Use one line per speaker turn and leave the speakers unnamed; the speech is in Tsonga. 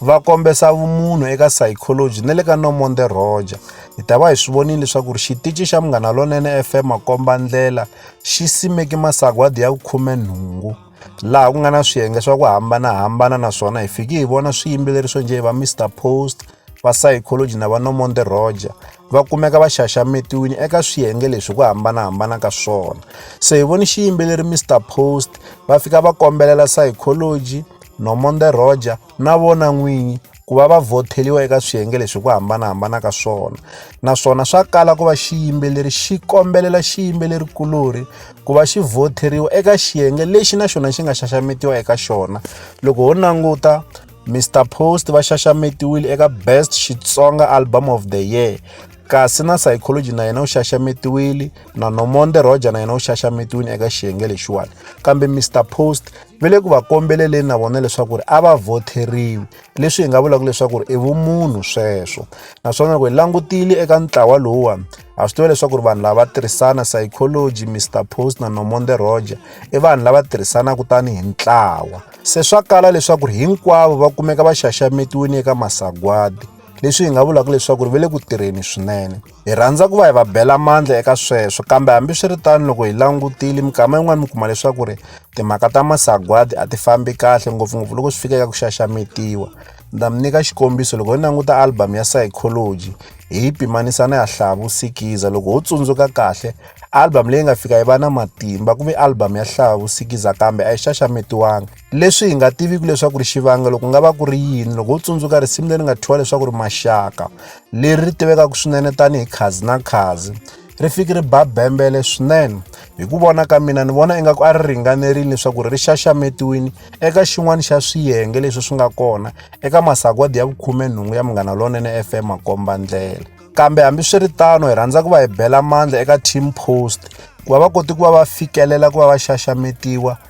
va kombesa vumunhu eka psychology na le ka nomonde roger hi ta va hi swi vonile leswaku ri xitici xa munghana lonene fm makomba ndlela xi simeke masagwadi ya vukhume nhungu laha ku nga na swiyenge swa ku hambanahambana naswona hi fiki hi vona swiyimbeleri swo njhe va mr post va psychology na va nomonde roger va kumeka va xaxametiwile eka swiyenge leswi ku hambanahambana ka swona se hi voni xiyimbeleri mr post va fika va kombelela psychology Nomonde Roger na vona n'winyi ku va va vhotheliwa eka swiyenge leswi hi ku hambanahambana ka swona naswona swa kala ku va xiyimbeleri xi kombelela xiyimbelerikulori ku va xi vhotheriwa eka xiyenge lexi na xona xi nga xaxametiwa eka xona loko ho languta Mr Post va xaxametiwile eka Best Xitsonga Album of the Year kasi na Psychology na yena u xaxametiwile na nomonde roger na yena u xaxametiwile eka xiyenge lexiwani kambe mr post ve le ku va kombeleleni na vona leswaku ri a va vhotheriwi leswi hi nga vulaka leswaku ri i vumunhu sweswo naswona loko hi langutile eka ntlawa lowuwani ha swi tiva leswaku ri vanhu lava tirhisana psychology mr post na nomonde roger i vanhu lava tirhisanaka tanihi ntlawa se swa kala leswaku ri hinkwavo va kumeka va xaxametiwile eka masagwadi leswi hi nga vulaka leswaku ri ve le ku tirheni swinene Hi rhandza ku va hi va bela mandla eka sweswo, kambe hambiswiritano loko hi langutile mikama yin'wana mi kuma leswaku ri timhaka ta masagwadi a ti fambi kahle ngopfungopfu loko swi fika eka ku xaxametiwa. Ni ta mi nyika xikombiso loko hi languta album ya Psychology hi yi pimanisa na ya Hlavu Sikiza loko ho tsundzuka kahle album leyi nga fika yi va na matimba ku ve album ya Hlavu Sikiza kambe a yi xaxametiwanga. leswi hi nga tiviki leswaku ri xivangelo ku nga va ku ri yini loko u tsundzuka risimu leri nga thyiwa leswaku ri maxaka leri ri tivekaka swinene tanihi khazi na khazi ri fiki ri ba bembele swinene hi ku vona ka mina ni vona ingaku a ri ringanerile leswaku ri ri xaxametiwini eka xin'wana xa swiyenge leswi swi nga kona eka masagwadi ya vukhume nhungu ya munghana lonene fm makomba ndlela kambe hambiswiritano hi rhandza ku va hi bela mandla eka team post ku va va koti ku va va fikelela ku va va xaxametiwa